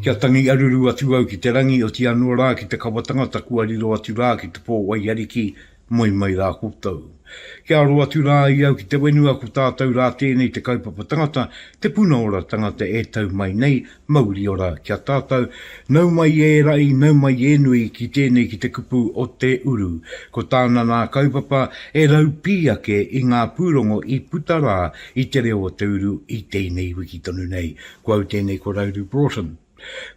Kia tangi aruru atu au ki te rangi, oti anō rā ki te kawa tangata kua riro atu rā ki te pō waiariki, moe mai rā koutou. Kia aro atu rā i au ki te wenua ko tātou rā tēnei te kaupapa tangata, te puna ora tangata e tau mai nei, Mauriora ki a tātou, nau mai e raʻi, nau mai e nui ki tēnei ki te kupu o Te Uru. Ko tāna nā kaupapa e raupī ake i ngā pūrongo i puta rā i Te Reo o Te Uru i tēnei wiki tonu nei. Ko au tēnei ko Rauru Broughton.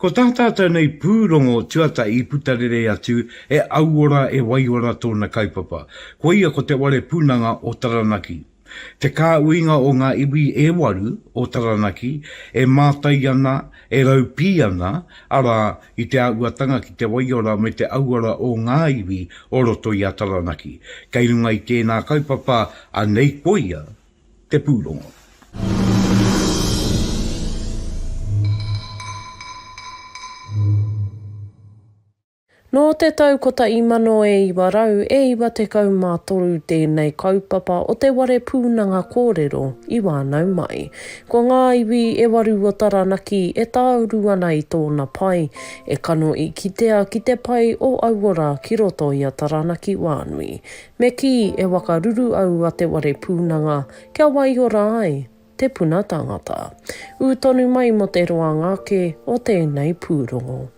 Ko tā tātou nei pūrongo tuatahi i puta rere atu e Auora e Waiora tōna kaupapa. Koia ko Te Ware Punanga o Taranaki. Te kāuinga o ngā iwi e waru o Taranaki e mātai ana, e raupī ana, arā, i te āhuatanga ki te waiora me te auora o ngā iwi o roto i a Taranaki. Kei runga i tēnā kaupapa anei koia te pūrongo. Nō te tau 1993 tēnei kaupapa o te ware pūnanga kōrero i wānau mai. Ko ngā iwi e waru o Taranaki e tāuru ana i tōna pai, e kano i kitea ki te pai o aua rā ki roto i a Taranaki wānui. Me kī, e wakaruru au a te ware pūnanga kia waiora ai te puna tangata. Ū tonu mai mō te roanga ake o tēnei pūrongo.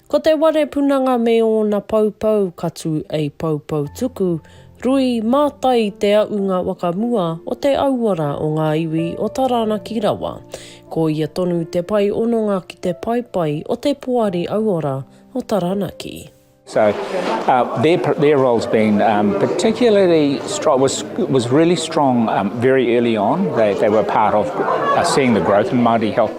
Ko te ware punanga me ōna poupou ka tū ei poupou tuku, rui, mātai i te aʻunga wakamua o te auara o ngā iwi o Taranaki rawa. Ko ia tonu te pae ononga ki te paepae o te Poari Auora o Taranaki. So uh, their, their role's been um, particularly strong, was, was really strong um, very early on. They, they were part of uh, seeing the growth in Māori health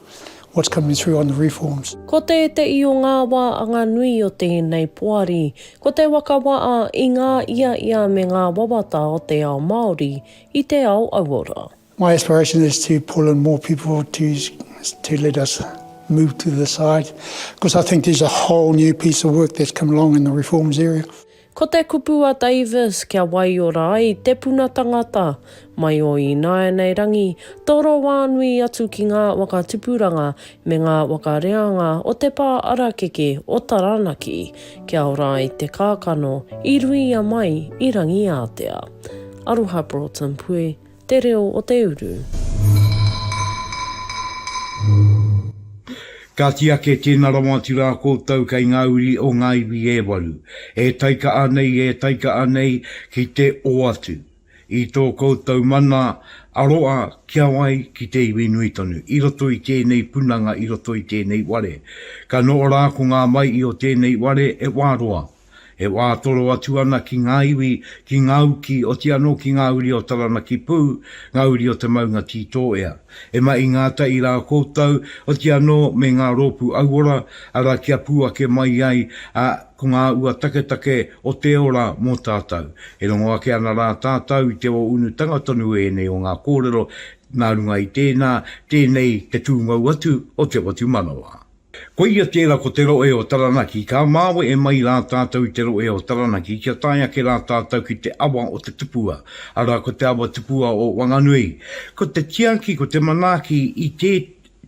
what's coming through on the reforms. Ko tēteʻi o ngā wā anga nui o tēnei poari, ko te waka waʻa i ngā ia ia me ngā wawata o te ao Māori i te ao auora. My aspiration is to pull in more people to to let us move to the side, because I think there's a whole new piece of work that's come along in the reforms area. Ko te kupu a Davis kia waiora ai te puna tangata, mai o ināianei rangi, toro wānui atu ki ngā waka tupuranga me ngā waka reanga o te pā arakeke o Taranaki, kia ora ai te kākano i ruia mai i Rangiātea. Aroha Broughton Pui. Te reo o te uru. Ka tiake tēna rawa atu rā koutou kei ngā uri o ngā iwi e waru, e taika'a nei, e taika'a nei ki te oatu i tō koutou mana aroa ki a wai, ki te iwi nui tonu, i roto i tēnei punanga, i roto i tēnei ware. Ka noho rā ko ngā mai'i o tēnei ware e wā roa. E wā toro atu ana ki ngā iwi, ki ngā uki, oti anō ki ngā uri o Taranaki Pū, ngā uri o te maunga Tītōea. E mahi ngātahi rā koutou, oti anō me ngā rōpū auora, arā kia pū ake mai ai, ā, ko ngā ua taketake o te ora mō tātou. E rongo ake ana rā tātou i te ō-unutanga tonu ēnei o ngā kōrero, nā runga i tēnā, tēnei te pūmau atu o te whatumanawa. Koia tērā ko te rohe o Taranaki, ka māwe e mai rā tātou i te rohe o Taranaki kia tae ake rā tātou ki te awa o te tupua, arā ko te awa tupua o Wanganui. Ko te tiaki, ko te manaaki i tē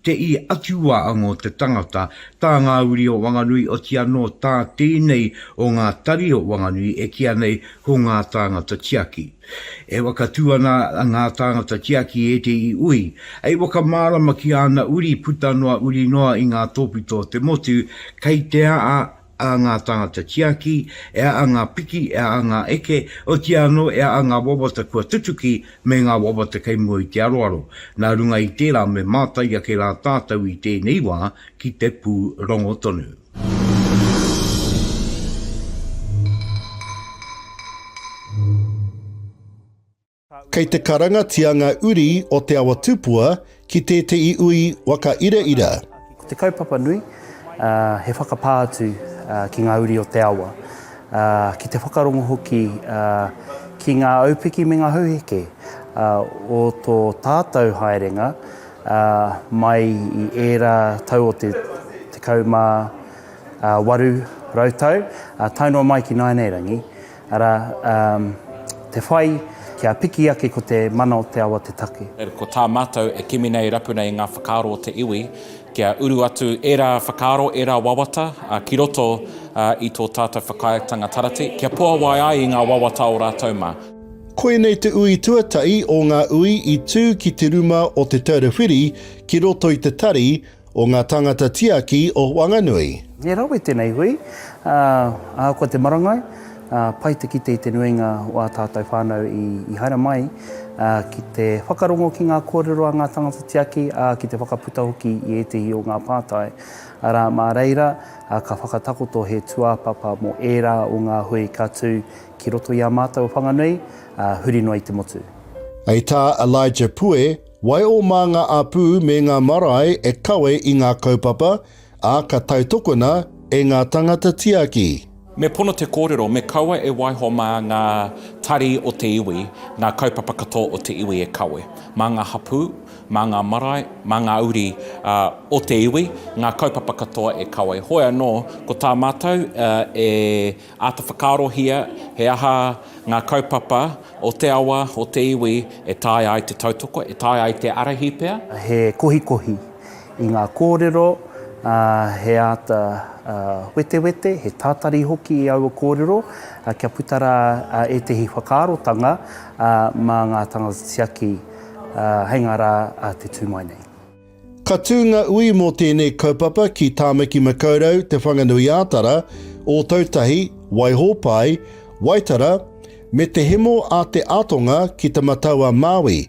te i atuwā ango te tangata, tā ngā uri o Wanganui oti anō tā tēnei o ngā tari o Wanganui e kīa nei ko ngā tāngata tiaki. E whakatū ana ngā tāngata tiaki i ētehi ui, hei whakamārama ki āna uri puta noa uri noa i ngā tōpito o te motu, kei te aa a ngā tāngata tiaki, e aa ngā piki, e aa ngā eke, otīa anō e aa ngā wawata kua tutuki me ngā wawata kei mua i te aroaro. Nā runga i tērā me mātai ake rā tātou i tēnei wā ki te pūrongo tonu. Kei te karangatia nga uri o Te Awa Tupua ki tetehi ui waka iraira. Ko te kaupapa nui, he whakapā atu ki nga uri o te awa, ki te whakarongo hoki ki nga aupiki me nga hauheke o to tatou haerenga, ā, mai i ērā tau o te tekau mā waru rautau, ā, tae noa mai ki nāianeirangi, arā, ā, te whai kia piki ake ko te mana o te awa te take. Ko tā mātou e kimi nei e rapu nei i ngā whakaaro o te iwi kia uru atu ērā whakaaro, ērā wawata ki roto i tō tātou whakaaetanga Tarati, kia puawai ai i ngā wawata o rātou mā. Koinei te ui tuatahi o ngā ui i tū ki te ruma o Te Taura Whiri ki roto i te tari o ngā tāngata tiaki o Whanganui. He rawe tenei hui, ahakoa te marangai, pai te kite i te nuinga o a tātou whānau i haere mai ki te whakarongo ki ngā kōrero a ngā tāngata tiaki, ā, ki te whakaputa hoki i ētehi o ngā pātai, arā, mā reira ka whakatakoto he tūāpapa mō ērā o ngā hui ka tū Ki roto i a mātou Whanganui, ā, huri noa i te motu. Hei tā Elijah Pue, Waeō mā ngā apū me ngā marae e kawe i ngā kaupapa, ā, ka tautokona e ngā tangata tiaki. Me pono te kōrero, me kaua e waiho mā ngā tari o te iwi, ngā kaupapa katoa o te iwi e kawe. Mā ngā hapū, mā ngā marae, mā ngā uri o te iwi, ngā kaupapa katoa e kawe. Hoi anō, ko tā mātou e. Āta whakaarohia he aha ngā kaupapa o te awa, o te iwi e taea ai te tautoko, e taea ai te ārahi pea. He kohikohi i ngā kōrero, he āta wetewete, he tātari hoki i aua kōrero kia puta rā ētehi whakaarotanga mā ngā tangata tiaki hei ngā rā te tū mai nei. Ka tū ngā ui mō tēnei kaupapa ki Tāmaki Makaurau, Te Whanganui-ā-Tara, Ōtautahi, Waihōpai, Waitara, me Te Hemo a Te Atonga ki Te Matau-a-Māui.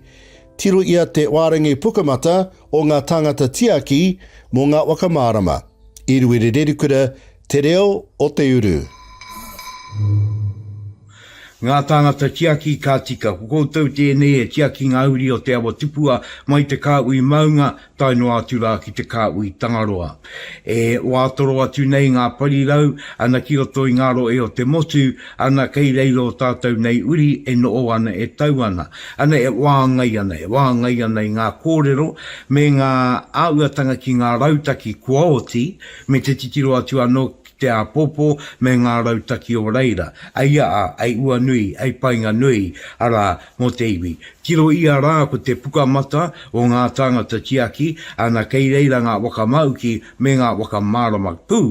Tiro ia te wārangi pukamata o ngā tāngata tiaki mō ngā waka mārama, i Ruerererikura, Te reo o te uru. Ngā tāngata tiaki ka tika. Ko koutou tēnei e tiaki ngā uri o Te Awa Tupua mai te Kāhui Maunga tae noa atu rā ki te Kāhui Tangaroa. E wātoro atu nei ngā parirau ana ki roto i ngā rohe o te motu, ana kei reira o tātou nei uri e noho ana, e tau ana, ana e whāngai ana, e whāngai ana i ngā kōrero me ngā āhuatanga ki ngā rautaki kua oti, me te titiro atu anō ki te āpōpō me ngā rautaki o reira, ei aa, ei ua nui, ei painga nui, arā, mō te iwi. Tiro ia rā ko te pukamata o ngā tāngata tiaki, ana kei reira ngā waka māuki me ngā waka mārama pū,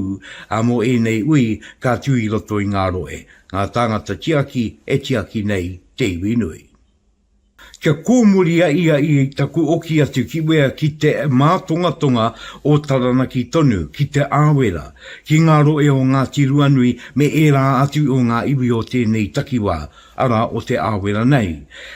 ā, mō ēnei ui ka tū i roto i ngā rohe, ngā tāngata tiaki e tiaki nei te iwi nui. Kia kōmuria ia i taku oki atu ki wea ki te mātongatonga o Taranaki tonu, ki Te Āwera, ki ngā rohe o Ngāti Ruanui me ērā atu o ngā iwi o tēnei takiwā, arā, o Te Āwera nei.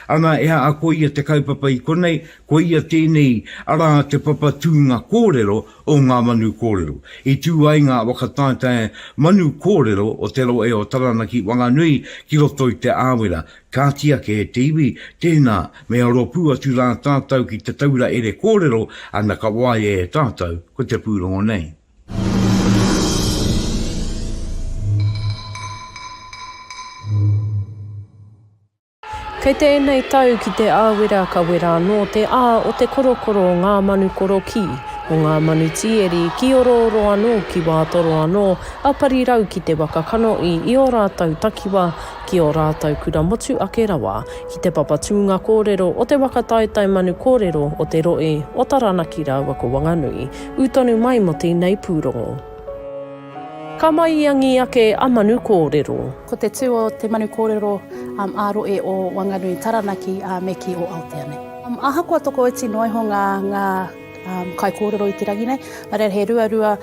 Ana, e aha ko ia te kaupapa i konei, ko ia tēnei, arā, te papa tūnga kōrero o ngā manu kōrero. I tū ai ngā whakataetae manu kōrero o te rohe o Taranaki Whanganui ki roto i Te Āwera, Kāti ake e te iwi, tēnā, me aro pū atu rā tātou ki te taura ere kōrero, ana ka waia e tātou, ko te pūrongo nei. Kei te ēnei tau ki te āwera ka wera anō te ā o te korokoro o ngā manu korokī, o ngā manu tīeri, kīorooro anō ki wā toro anō a Parirau ki te waka kanohi i ō rātou takiwā ki ō rātou kura motu ake rawa, ki Te Papa Tūnga Kōrero o Te Waka Taetae Manu Kōrero o Te Rohe o Taranaki rāua ko Wanganui, ū tonu mai mō tēnei pūrongo. Ka maiangi ake a Manu Kōrero. Ko te tū o te manu kōrero ā-rohe o Wanganui, Taranaki me kī o Aotea nei. Ahakoa tokoiti noa iho ngā kaikōrero i te rangi nei, nā reira he ruarua.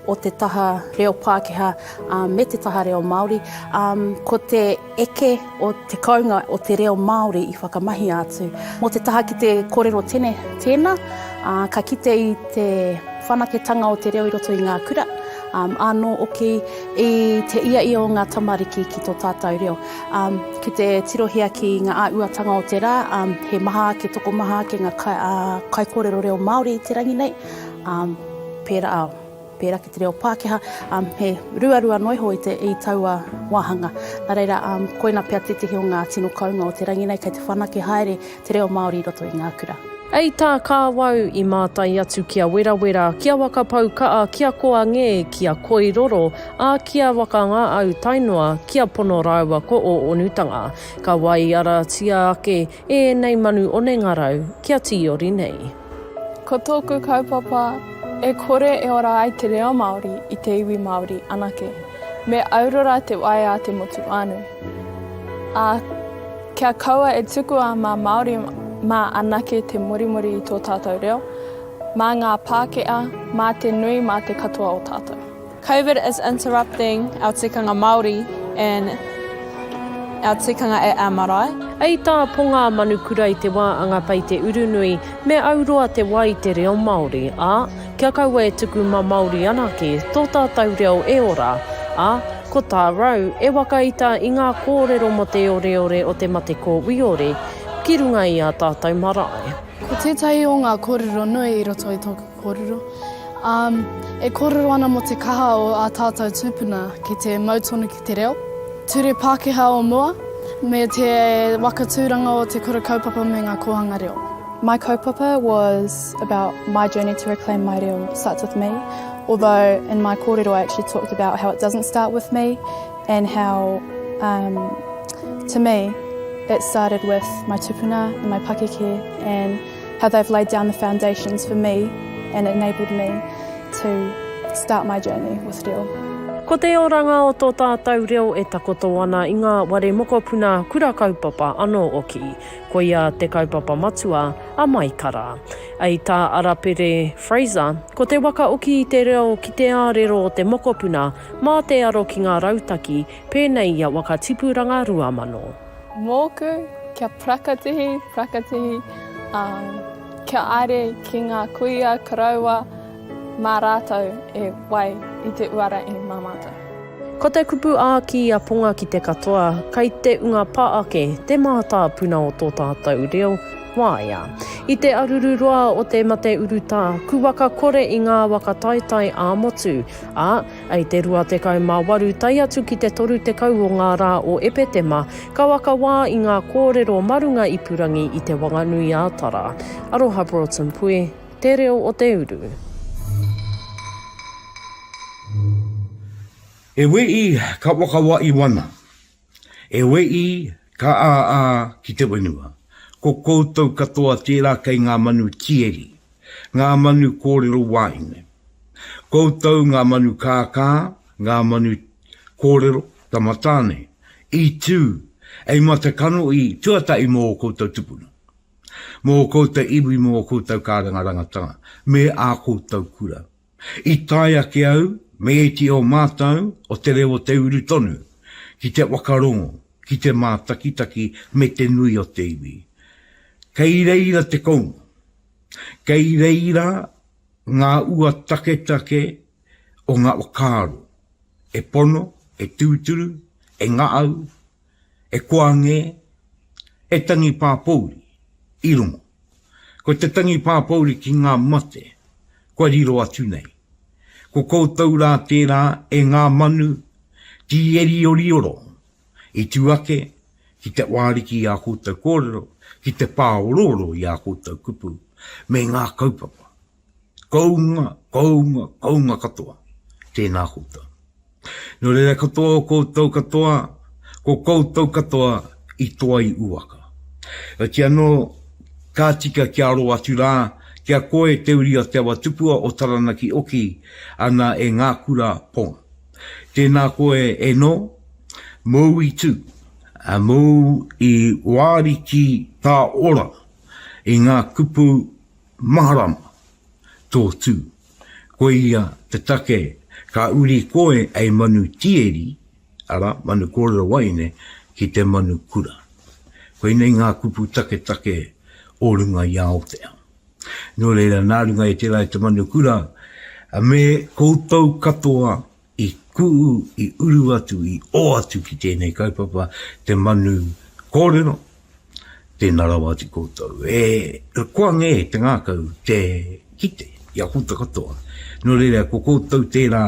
o te taha reo Pākehā me te taha reo Māori, ko te eke o te kounga o te reo Māori i whakamahia atu. Mō te taha ki te kōrero tene tēnā, ka kite i te whanaketanga o te reo i roto i ngā kura, ānō hoki i te ia ia o ngā tamariki ki tō tātou reo. Ki te tirohia ki ngā āhuatanga o te rā, he maha ake, tokomaha ake ngā kaikōrero reo Māori i te rangi nei, Um, pērā, pērā ki te reo Pākehā, um, he ruarua noa iho i, te, i taua wāhanga. Nā reira, um, koina pea tētehi o ngā tino kounga o te rangi nei, kei te whanake haere te reo Māori i roto i ngā kura. Ei tā Kāwau, i mātai atu ki a Werawera, ki a Waka-pau-kaa, ki a Koangē, ki a Koiroro, ā, ki a Waka-ngā-au tae noa ki a Pono rāua ko Ō-onutanga. Ka waiaratia ake ēnei manu onengarau kia tīori nei. Ko tōku kaupapa, e kore e ora ai te reo Māori i te iwi Māori anake. Me aurora te waea a te motu whānui. Ā, kia kaua e tukua mā Māori mā anake te morimori i tō tātou reo, mā ngā Pākehā, mā te nui, mā te katoa o tātou. Covid is interrupting our tikanga Māori and our tikanga at our marae. Ei tā Ponga a Manukura i te wā a ngā pei te urunui, me auroa te wā i te reo Māori, ā, kia kaua e tuku ma Māori anake tō tātau reo e ora, ā, ko tā Rau e wakaita i ngā kōrero mō te oreore o te mate kōwiore ki runga i ā tātau marae. Ko tētahi o ngā kōrero nui i roto i tōku Kōrero. Ā, e kōrero ana mō te kaha o ā tātou tūpuna ki te mau tonu ki te reo, ture Pākehā o mua, me te waka tūranga o te Kura Kaupapa me ngā kōhanga reo. My kaupapa was about my journey to reclaim my reo starts with me, although in my kōrero I actually talked about how it doesn't start with me and how um to me it started with my tupuna and my pakeke and How they've laid down the foundations for me and enabled me to start my journey with reo. Ko te oranga o tō tātou reo e takoto ana i ngā ware mokopuna, kura kaupapa anō oki. Koia te kaupapa matua a Maikara. Ei tā Arapere Fraser, ko te wakaoki i te reo ki te ārero o te mokopuna mā te aro ki ngā rautaki pēnei i a Wakatipuranga 2000. Mōku, kia prakatihi, prakatihi, ā, kia aere ki ngā kuia koroua mā rātou e wai i te uara i mā mātou. Ko te kupu ā ki a Ponga ki te katoa, kai te unga pa ake te mātāpuna o tō tātou reo, wāea. I te aruru roa o te mate urutā, ku waka kore i ngā waka taetae ā-motu, ā, I te 28 tae atu ki te 30 o ngā rā o Epetema, ka waka wā i ngā kōrero ma runga ipurangi i Te Wanganui-ā-Tara. Aroha Broughton Pui, Te Reo o te Uru. He wī, ka waka wā i wana. E Wēʻi, ka āā ki te whenua, ko koutou katoa tērā kei ngā manu tieri, ngā manu kōrero wāhine. Koutou ngā manu kākā, ngā manu kōrero tamatāne, i tū, ei matakano i, tuatahi mō ō koutou tupuna, mō ō koutou iwi mō ō koutou kārangarangatanga me ā koutou kura. I tae ake au me ēti o mātou o te reo o te uru tonu ki te whakarongo, ki te mātakitaki me te nui o te iwi. Kei reira te kounga, kei reira ngā ua taketake o ngā whakaaro e pono, e tūturu, e ngaau, E koa ngē, he tangi pāpouri, i rongo. Ko te tangi pāpouri ki ngā mate, kua riro atu nei. Ko koutou rā tērā e ngā manu tīeriorioro i tū ake ki te wāriki i ā koutou kōrero, ki te pāorooro i ā koutou kupu, me ngā kaupapa. Kounga, kounga, kounga katoa. Tēnā koutou. Nō reira katoa o koutou katoa, ko koutou katoa i toa i uaka. Heoti anō, ka tika kia aro atu rā, ki a koe te uri a Te Awatupua o Taranaki Oki ana e ngā kura Pong. Tēnā koe e nō, mōu i tū, mōu i wāri ki tā ora i ngā kupu Maharama, tō tū. Koia te take ka uri koe ei manu tieri, arā, manu kōrero waeine, ki te manu kura. Koinei ngā kupu taketake o runga i a Aotea. Nō reira, nā runga i tērā i te manu kura, me koutou katoa I kū, i uru atu, i ō atu ki tēnei kaupapa, te manu kōrero, tēnā rawa atu koutou. E, koa ngē te ngākau, te kite, i a koutou katoa. Nō reira, ko koutou tērā,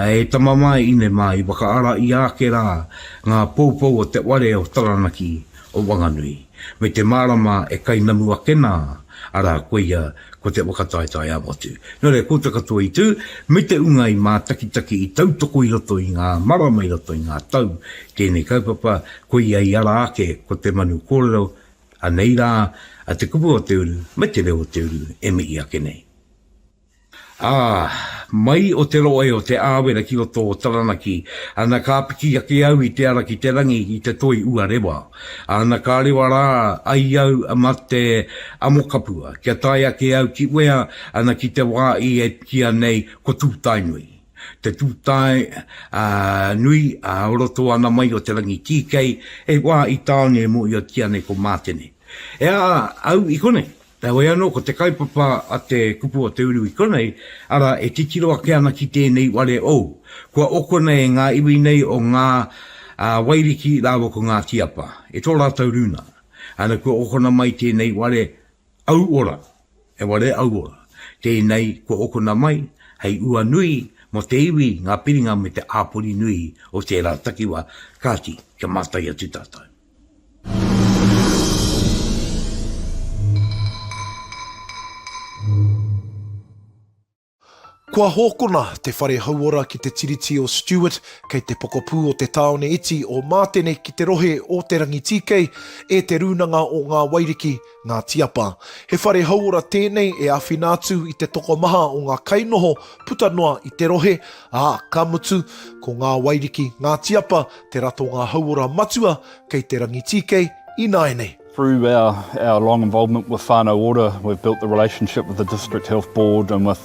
e tama māi ine māi, whakaara i āke rā, ngā poupou o te ware o Taranaki, o Wanganui, me te mārama e kainamu ake nā, arā, koia ko te whakataetae ā-motu. Nō reira, koutou katoa i tū, me te ūnga i mātakitaki, i tautoko i roto i ngā marama, i roto i ngā tau, tēnei kaupapa, koia i ara ake ko te manu kōrero, anei rā, te kupu o te uru, me te reo o te uru e mihi ake nei. Ā, mai o te rohe o Te Āwera ki roto o Taranaki, ana ka piki ake au i te ara ki te rangi i te toi uarewa. Ana ka rewa rā ai au ma te Amokapua kia tae ake au ki wea ana ki te wā i e pikia nei ko Tūtaenui. Te Tūtae a nui a roto ana mai o te rangi tīkei, he wā i tāone e mōhiotia nei ko Mātene. Ea au i konei. Heoi anō, ko te kaupapa a te kupu o te uru i konei, arā, e titiro ake ana ki tēnei ware ou. Kua okona e ngā iwi nei o Ngā Wairiki rāua ko Ngā Tiapa, e tō rātou rūnanga. Ana, kua okona mai tēnei ware au ora, he ware au ora tēnei kua okona mai hei ua nui mō te iwi, ngā piringa me te āpori nui o tērā takiwā, kāti, kia mātai atu tātou. Kua hokona te whare hauora ki te Tiriti o Stewart, kei te pokapū o te tāone iti o Mātene ki te rohe o Te Rangitīkei, e Te Rūnanga o Ngā Wairiki, Ngāti Apa. He whare hauora tēnei e āwhina atu i te tokomaha o ngā kainoho puta noa i te rohe, ā, ka mutu, ko Ngā Wairiki, Ngāti Apa, te ratonga hauora matua kei te Rangitīkei ināianei. Through our long involvement with Whānau Ora, we've built the relationship with the District Health Board and with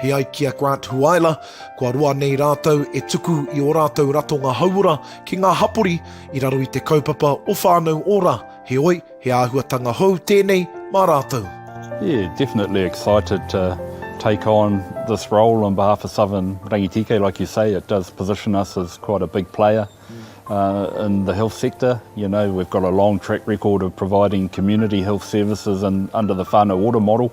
He ai ki a Grant Huaela, kua roa nei rātou e tuku i ō rātou ratonga hauora ki ngā hapori i raro i te kaupapa o Whānau Ora, heoi, he āhuatanga hou tēnei mā rātou. Yeah, definitely excited to take on this role on behalf of Southern Rangitīkei. Like you say, it does position us as quite a big player uh, in the health sector. You know, we've got a long track record of providing community health services and under the whānau ora model.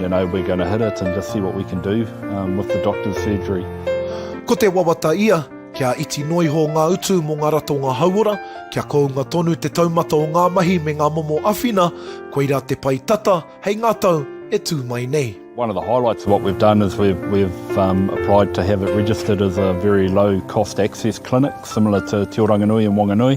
You know we're gonna hit it and just see what we can do with the doctor's surgery. Ko te wawata ia, kia iti noa iho ngā utu mō ngā ratonga hauora, kia kounga tonu te taumata o ngā mahi me ngā momo awhina, koirā te pae tata hei ngā tau e tū mai nei. One of the highlights of what we've done is we've, we've um, applied to have it registered as a very low cost access clinic, similar to Te Oranganui and Wanganui.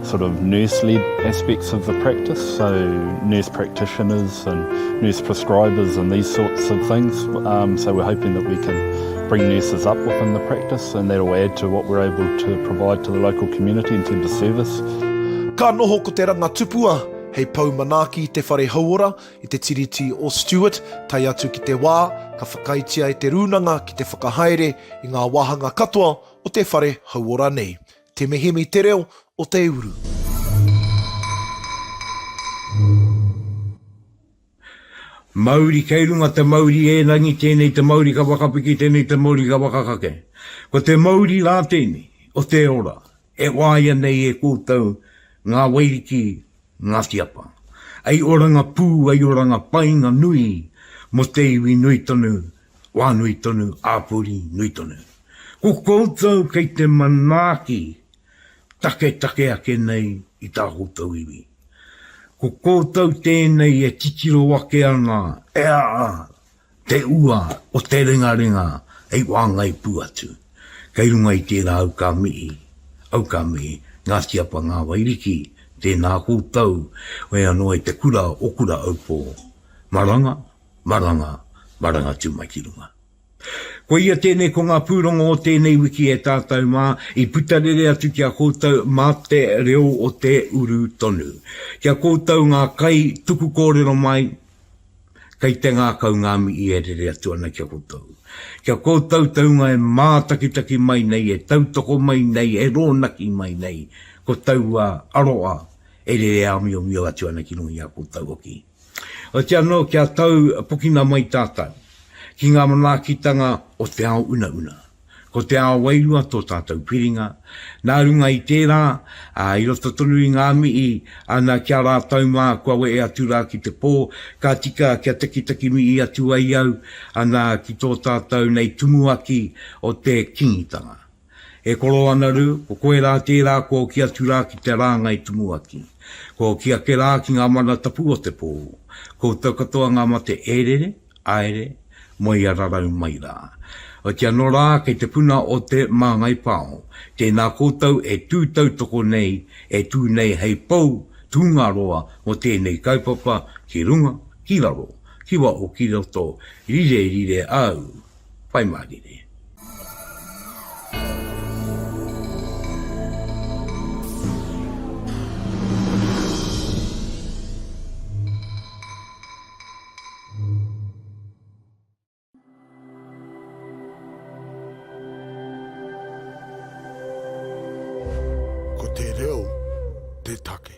sort of nurse-led aspects of the practice, so nurse practitioners and nurse prescribers and these sorts of things. Um, so we're hoping that we can bring nurses up within the practice and that'll add to what we're able to provide to the local community in terms of service. Ka noho ko te ranga tupua hei pau manaaki i te whare hauora i te tiriti o Stewart, tai atu ki te wā ka whakaitia e te rūnanga ki te whakahaere i ngā wāhanga katoa o te whare hauora nei. Te mihimi te reo o te uru. Mauri kei runga te mauri ērangi tēnei te mauri ka whakapiki tēnei te mauri ka whakakake ko te mauri rā tēnei o te ora e wāia nei e koutou ngā wairiki Ngāti Apa. Ai oranga pū, ai oranga painga nui mō te iwi nui tonu, wā nui tonu, āpori nui tonu. Ko koutou kei te manaaki taketake ake nei i tā koutou iwi. Ko koutou tēnei e titiro ake ana, e a, Te ua o te rengarenga hei wāngai pū atu. Kei runga i tērā au ka mihi, au ka mihi, Ngāti Apa Ngā Wairiki, tēnā koutou, whea noa i te kura o Kuraʻaupō. Maranga, maranga, maranga tū mai ki runga. Koia tēnei ko ngā pūrongo o tēnei wiki e tātou mā, i puta rere atu ki a koutou mā te reo o te uru tonu. Ki a koutou ngā kai tuku kōrero mai, Kei te ngākau ngā mihi e rere atu ana ki a koutou. Ki a koutou te hunga e mātakitaki mai nei, e tautoko mai nei, e rōnaki mai nei, ko taua aroha e rere āmiomio atu ana ki runga i a koutou hoki. Otirā anō kia tau pokina mai tātou ki ngā manaakitanga o te ao unauna. Ko te ao wairua tō tātou whiringa, nā runga i tērā, ā, i roto tonu i ngā mihi, ana ki a rātou mā kua wehe atu rā ki te pō, ka tika kia takitaki mihi atu ai au, ana ki tō tātou nei tumuaki o te Kingitanga. E koro ana rū, ko koe rā tērā kua oki atu rā ki te rāngai tumuaki. Kua oki ake rā ki ngā mana tapu o te pō. Koutou katoa ngā mate e rere, Aere, mo ia rarau mai ra. Otia no ra kei te puna o te Mangai Pao, tena koutou e tu tautoko nei, e tu nei hei pou Tungaroa mo tenei kaupapa ki runga, ki raro, ki waho ki roto, rire rire au, whai ma rire. Ko te reo te take.